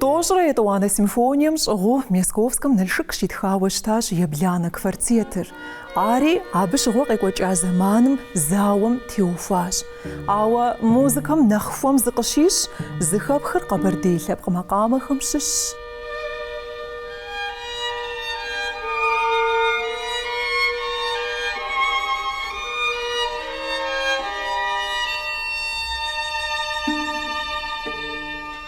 Тӏощӏрэ етӏуанэ симфонием щӏыгъуу Мясковскэм Налшык щитхауэ щытащ ебланэ квартетыр. Ари абы щыгъуэ къекӏуэкӏа зэманым зауэм теухуащ. Ауэ музыкэм нэхъ хуэм зыкъыщищӏ зыхэпхыр къэбэрдей лъэпкъ макъамэхэм щыщщ.